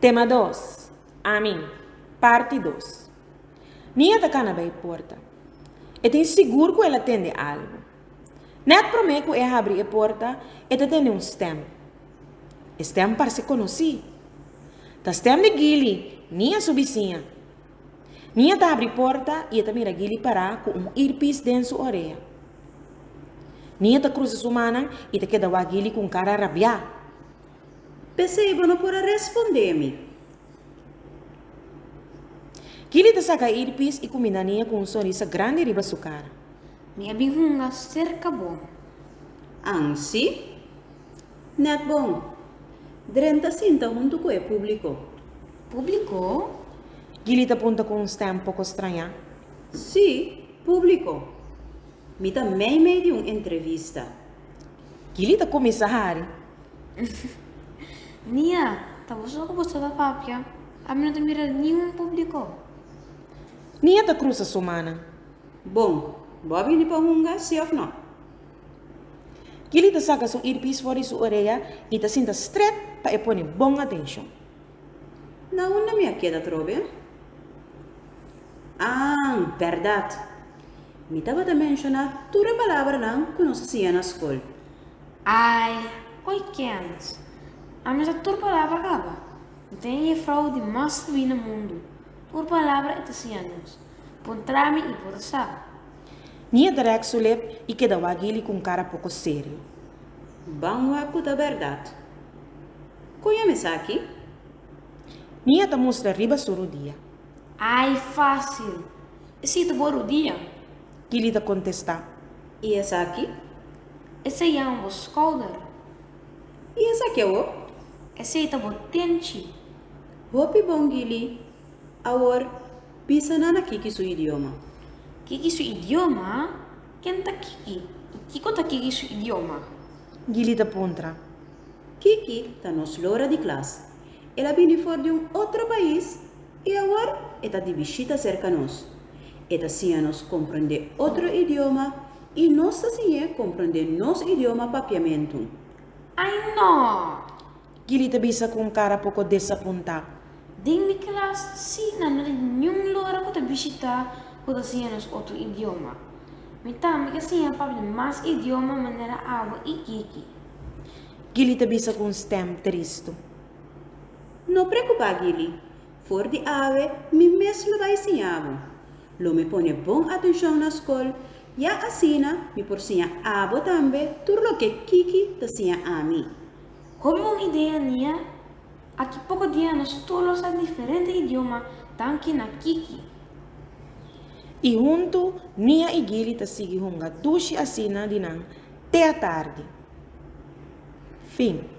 Tema dos, Ami, Parti dos. Mia ta kana bai porta. E tin sigur ku el a tende algu. Nèt promé ku e a habri e porta, e ta tende un stèm. E stèm parse konosí. Ta stèm di Gili, Mia su bisiña. Mia ta habri porta i e ta mira Gili pará ku un irpis den su orea. Mia ta krusa su mannan i ta keda wak Gili ku un kara rabiá. P'esei bo no por a respondé mi. Gilly ta saca e earpiece y cu mira Nia cu un sonrisa grandi riba su cara. Mi a bin hunga cerca bo. An si? Net bon. Dren ta sinta hunto cu e publico. Publico? Gilly ta punta cu un stem poco straña. Si, publico. Mi ta mei mei di un entrevista. Kili ta kuminsá hari. Nia, ta bo so ku bo tabata papia? Ami no ta mira niun públiko. Nia ta krusa su manan. Bon, bo a bini pa hunga, si òf nò? Kili ta saka su earpiece for di su orea i ta sinta strèt pa e pone bon atenshon. Na unda mi a keda trobe? Ah, berdad! Mi tabata menshona tur e palabranan ku nos a siña na skol. Ai, oi kèns, a mester tur palabra kaba. Mi ta e yefrou di mas sabí na mundu, tur palabra e ta siña nos. Pon tra mi i bo ta sa. Mi a derèk su lep i keda wak Gilly ku un kara poko serio. Ban wak ku ta bèrdat. Koño em esaki? Mi a ta mustra riba su rudia. Ai, fásil! E siti bo rudia. Kili ta kontestá. I esaki? Esei jama bo skouder. I esaki awó? Esei ta bo tenchi. Hopi bon, Gili. Awor, bisa nan aki ki su idioma. Ki ki su idioma? Ken ta Kiki i kiko ta Kiki su idioma? Gili ta puntra. Kiki ta nos lora di klas. El a bini for di un otro pais i awor e ta di bishita serka nos. E ta siña nos komprondé otro idioma i nos ta siñ'é komprondé nos idioma papiamentu. Ai no! Gilly ta bisa ku un kara poko desapuntá. Den mi klas sí nan no tin niun lora ku ta bishitá ku ta siña nos otro idioma. Mi tambe ke siña pap di mas idioma manera awa i kiki. Gilly ta bisa ku un stem tristu. No preokupá Gilly, for di awe mi mes lo bai siña bo. Lo mi pone bon atenshon na skol, ya asina mi por siña abo tambe tur loke kiki ta siña ami. Komo un idea nia, aki poko dia nos tur lo sa diferente idioma danki na Kiki. I huntu Nia i Gili ta sigui hunga dushi asina di nan te atardi. Fin.